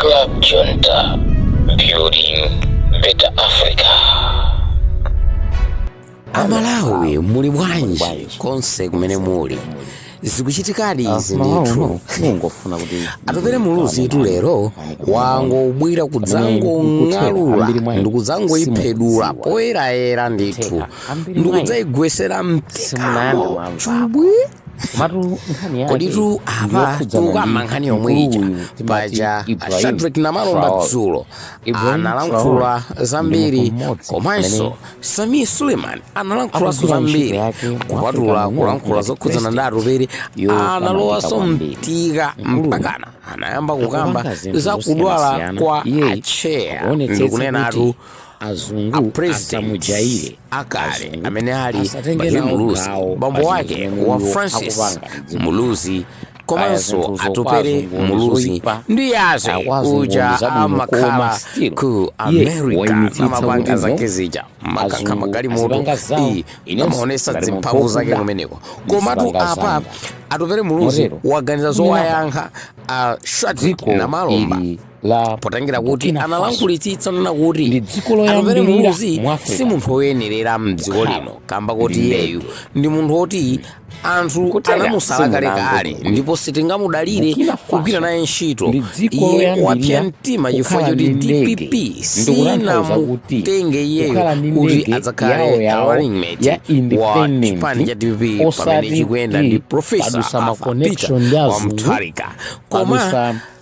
Club Junta, building better Africa. amalawi muli bwanji konse kumene muli zikuchitikadi izi ndithu Atupele muluzi itu lero wangobwira kudzangong'alula ndikudzangoyiphedula poyerayera ndithu ndikudzayigwesera mphikamo chubwi komatu nkhani yake koditu apa ndiyokhudzana ndi tikukamba nkhani yomwe mkulu ija uyu timati paja Ibrahim shadrack namalomba Traore. dzulo Ibrahim analankhula Traore ndi zambiri munthu mmodzi komanso amene sami suleiman analankhulaso akugwira ntchito zambiri yake mu kupatula African Union kulankhula ngati zokhuzana ndi president atupere yopambanitsa analowaso kwambiri. mtika Mkuluyu mpakana anayamba kukamba akupanga zinthu za kudwala zosiyanasiyana. kwa Iye acheya akuonetsetsa ndikunenatu kuti president akale amene ali Bakili Muluzi bambo wake wa Francis Muluzi komanso Atupele Muluzi ndi yaze uja amakhala ku America amapanga zake zija makakha magalimoto ii amaonesa dzimphamvu zake kumeneko komatu apa Atupele Muluzi waganiza zowayankha a Shadrack Namalomba la potengera kuti Burkina Faso analankhulitsitsa nena kuti ndi dziko atupere loyambirira muluzi mu Africa si munthu woyenerera mdziko Kukhala lino kamba kuti ndi iyeyu ndege. ndi munthu woti anthu Kutera anamusala kale simunamve kale kuti ndipo sitingamudalire Burkina Faso kugwira naye ntchito ndi dziko iye loyambirira wapsa mtima chifukwa kukhala choti ndi ndege. dpp Ndikutanthauza kuti sinamutenge iyeyo kukhala ndi kuti ndege yawo adzakhale yawo running mate ya wa independent, chipani cha dpp pamene osati chikuyenda ndi kuti profesa padutsa ma Arthur connection Peter ndi wa azungu, mutharika koma padutsa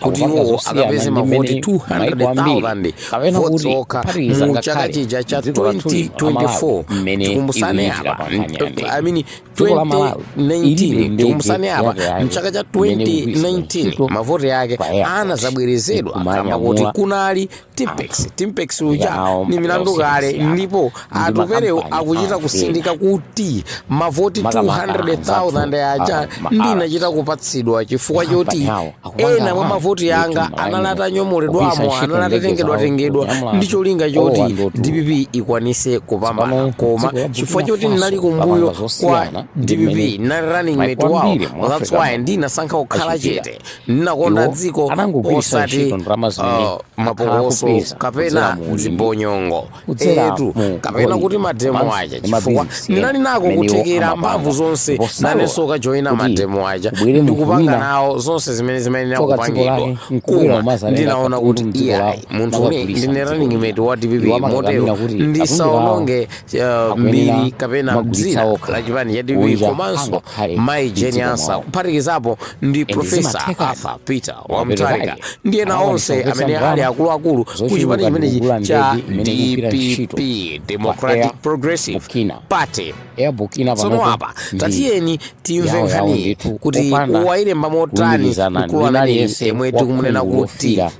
kuti iwowo akapeze mavoti 200,000 votes okha mu chaka chija cha 2024 tikumbusane apa i mean 2019 tikumbusane apa mchaka cha 2019 mavoti yake anazabwerezedwa kamba kuti kunali timpex timpex uja Nawo ni milandu mpaka kale usiyana. ndipo Ndi atupelewo makampani akuchita anthu kusindika kuti mavoti Makamaka 200,000 anthu aja a- ma- ndinachita a- kupatsidwa chifukwa Makampani choti awo akupanga ena mwa anthu mavoti kuti anga malaini anali kupisa atanyomolidwamo ntchito anali ndege atatengedwa zawo tengedwa kuti amulanda. ndi cholinga Owa choti ndotu. dpp ikwanise kupambana Tsopano koma dziko la chifukwa Burkina choti Faso ndinali kumbuyo lapanga kwa zosiyana ndi dpp mmene ndinali running mate wawo kwambiri mu that's Africa why muno. ndinasankha kukhala Achitira. chete Ndinakonda Iwo dziko anangogwiritsa osati ntchito ndalama zimene ah, akhala mapokoso akupeza kudzera kapena mu ulimi, zibonyongo kudzera etu mu kapena golide, kuti mademo komanso aja ndi chifukwa mabizinesi ndinali ena nako amene iwo kuthekera amapanga, mphamvu zonse ndipo salola nanenso kajoyina kuti mademo aja kubwere munthu ndikupanga wina nawo zonse zimene zimayenera tsoka dziko kupangidwa lake nkubwera koma umazanena ndinaona katundu kuti mdziko iyayi lawo munthu uni ndine running mate wa dpp motero ndisaononge mbiri kapena dzina la chipani cha dpp komanso mayi jeni ansa kuphatikizapo ndi profesa arthur peter wa mutharika ndi ena onse amene ali akuluakulu ku chipani chimenechi cha dpp democratic progressive party tsono apa tatiyeni timve nkhaniyi kuti wayilemba motani mkulu ameneyu yemwe tikumunena kuti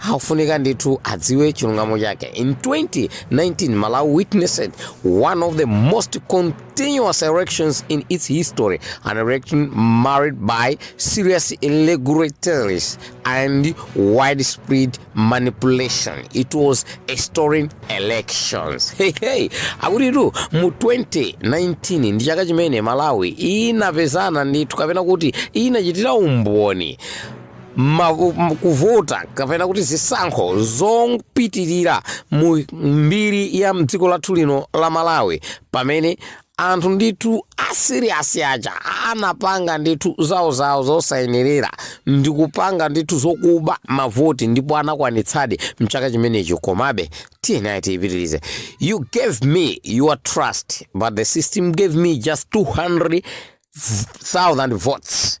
akufunika ndithu adziwe chilungamo chake in 2019 malawi witnessed one of the most contentious elections in its history an election marred by serious irregularities and widespread manipulation it was a stolen elections hey, hey. akutitu mu 2019 ndi chaka chimene malawi inapezana ndithu kapena kuti inachitira umboni ma, m- kuvota kapena kuti zisankho zopitirira mu mbiri ya mdziko lathu lino la malawi pamene anthu ndithu asiriyasi aja anapanga ndithu zawo zawo zosayenerera ndi kupanga ndithu zokuba mavoti ndipo anakwanitsadi mchaka chimenechi komabe tiyeni tiyipitirize you gave me your trust but the system gave me just 200,000 votes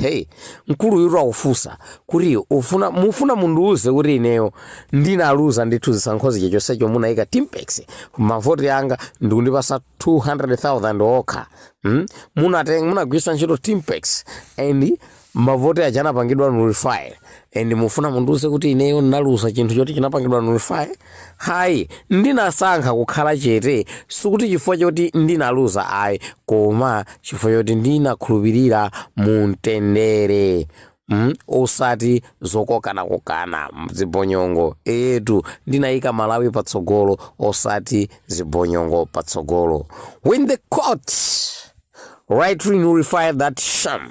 Hey, mkuluyu akufunsa kuti ufuna mufuna mundiuze kuti ineyo ndinaluza ndithu zisankho zija chonsecho munayika tippex mavoti anga ndikundipasa 200,000 okha hmm? munateng munagwiritsa ntchito tippex and mavoti aja anapangidwa nullify and mufuna mundiuze kuti ineyo ndinaluza chinthu choti chinapangidwa nullify hayi ndinasankha kukhala chete sikuti chifukwa choti ndinaluza ayi koma chifukwa choti ndinakhulupirira mu mtendere Mm, osati zokokanakokana zibonyongo eyetu ndinayika malawi patsogolo osati zibonyongo patsogolo when the court rightly nullified that sham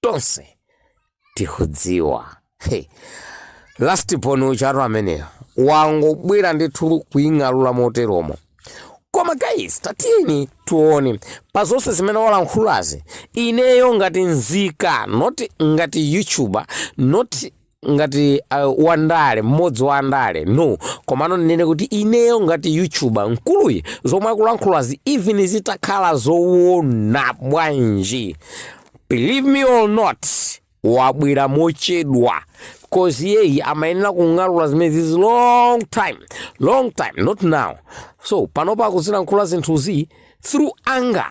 tonse tikudziwa hey. last born ujatu ameneyo wangobwera ndithu kuying'alula moteromo koma guys tatiyeni tione pa zonse zimene walankhulazi ineyo ngati nzika not ngati youtuber not ngati uh, wandale mmodzi wa andale no komano ndinene kuti ineyo ngati youtuber mkuluyi zomwe akulankhulazi even zitakhala zowona bwanji believe me or not wabwera mochedwa cause iyeyu amayenera kung'alula zimenezizi long time long time not now so panopa akuzilankhula zinthuzi through anger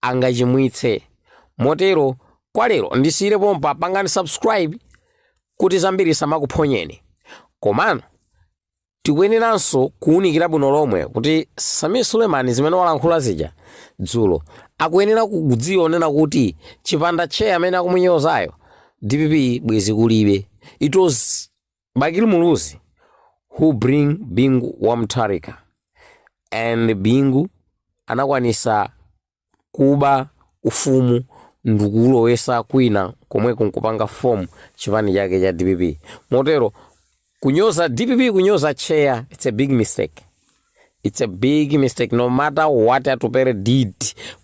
angachimwitse. Motero kwa lero ndisiyire pompa pangani subscribe kuti zambiri isamakuphonyeni. Komano tikuyeneranso kuwunikira bwino lomwe kuti Sameer Suleman zimene walankhula zija dzulo akuyenera kudziwa kunena kuti chipanda chair amene akumunyozayo dpp bwezi kulibe. It was Bakili Muluzi who bring Bingu wa Mutharika and Bingu anakwanisa kuba ufumu ndikulowesa kwina komweko nkupanga form chipani chake cha dpp motero kunyoza dpp kunyoza chair it's a big mistake It's a big mistake no matter what Atupele did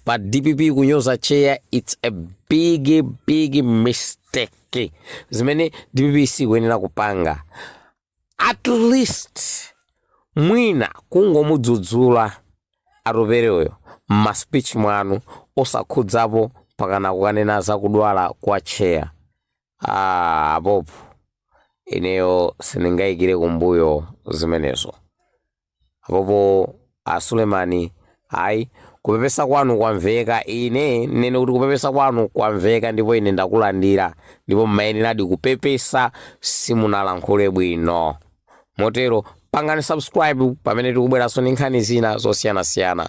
pa dpp kunyoza chair it's a big big mistake zimene dpp sikuyenera kupanga at least mwina kungomudzudzula Atupele uyo mma speech mwanu osakhudzapo pakana kukanena za kudwala kwa chair Apopo ineyo siningayikire kumbuyo zimenezo. Apopo a Sulemani, ayi kupepesa kwanu kwamveka. Ine nene kuti kupepesa kwanu kwamveka ndipo ine ndakulandira ndipo mmayeneradi kupepesa simunalankhule bwino. Motero pangani subscribe pamene tikubweranso ndi nkhani zina zosiyanasiyana.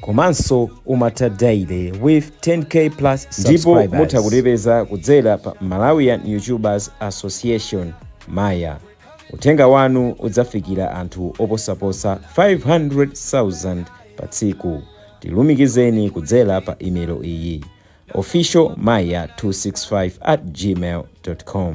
komanso Umatha Daily with 10k plus ndipo mutha kutipeza kudzera pa malawian youtubers association maya uthenga wanu udzafikira anthu oposaposa 500,000 pa tsiku tilumikizeni kudzera pa email iyi official maya 265 at gmail com